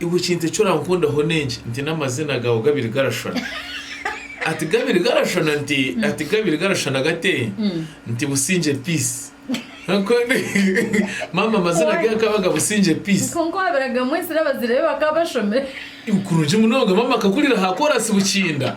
Iwe ekintu eki orankundaho n'enki? Nti n'amazina gaawe gabiri garashushana. Ati gabiri garashushana nti? Ati gabiri garashushana gate? Nti Busingye Peace. Kwonka maama amazina ge gakabaga Busingye Peace. Kwonka owaabiraga Mwesire abazaire be bakaba bashomire. Kurungi munonga. Maama akakurira aha koraasi Bukinda.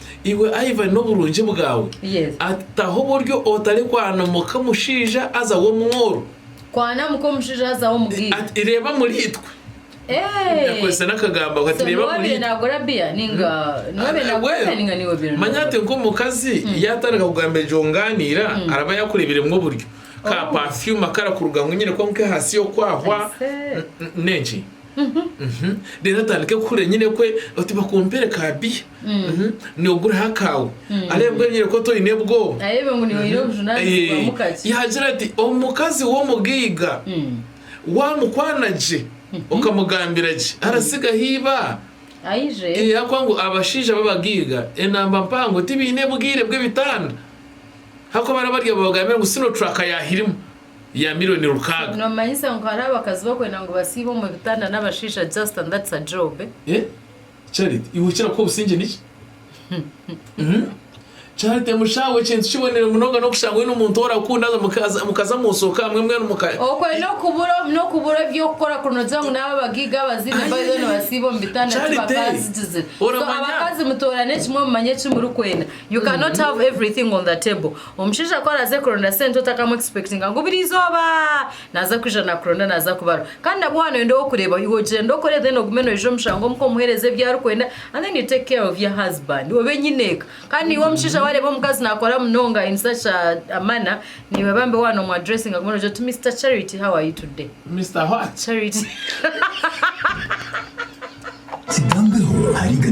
Iwe Ivan n'oburungi bwawe Yes. ati aho buri otari kwana muka omushaija aza w'omworo Kwana muka omushaija aza w'omugaiga. ati reeba muri itwe Hey! Yakozesa n'akagambo ako, ati So reeba niwe muri abaire itwe naagura beer ninga niwe abaire naagura Well, beer ninga niwe abaire manya ati naagura? nk'omukazi yaatandika kugamba egyo ngaaniira araba yaakureeberemu oburyo ka Oh. perfume akarakuruga ngu nyine kuba nk'ehaasi y'okwahwa Aise. n- n- n'enki reero atandike kuhurira enyine kwe oti bakumpere ka biya niwe oguriho akaawe areebwe enyine kwe oti oine obwoba yaagira ati omukazi w'omugaiga waamukwana gye okamugambira gye aratsigaho eibaa ahabw'okuba ngu abashaija b'abagaiga enamba mpango tibaine bwire bw'ebitanda ahabw'okuba baraba bari aho babagambira ngu sino turaaka yaahirima ya mironi rukaaga. Nomanyisa ngu hariho abakazi bakwenda ngu basiibe omu bitanda n'abashaija just and that's a job eh? Charity iwe okira kuha obusingye niki? Charity mushaawe ekintu kiboniire munonga n'okushanga oine omuntu orakunda haza mukaza musoka hamwe mbwenu muka. Okwe nokubura nokubura ebyokukora kuri nogira ngu naaba abagaiga abazaine by the way nibasiiba omu bitanda tibakaazigizire so abakazi mutoorane kimwe mumanye eki murikwenda you cannot have everything on the table. Omushaija ku araaze kuronda sente otakamu expectinga ngu buri izooba naaza kwija nakuronda naaza kubaru kandi nabwo waaba noyenda ow'okureebaho iwe gyenda okore then ogume noija omu shango omuka omuheereze ebi arikwenda and then you take care of your husband obe nyine eka kandi naiwe omushaija waareeba omukazi naakora munonga in such a a manner naiwe bambi waaba nomu addressinga ogume nogira oti Mister Charity how are you today? Mister what? Charity. Kigambeho ahariga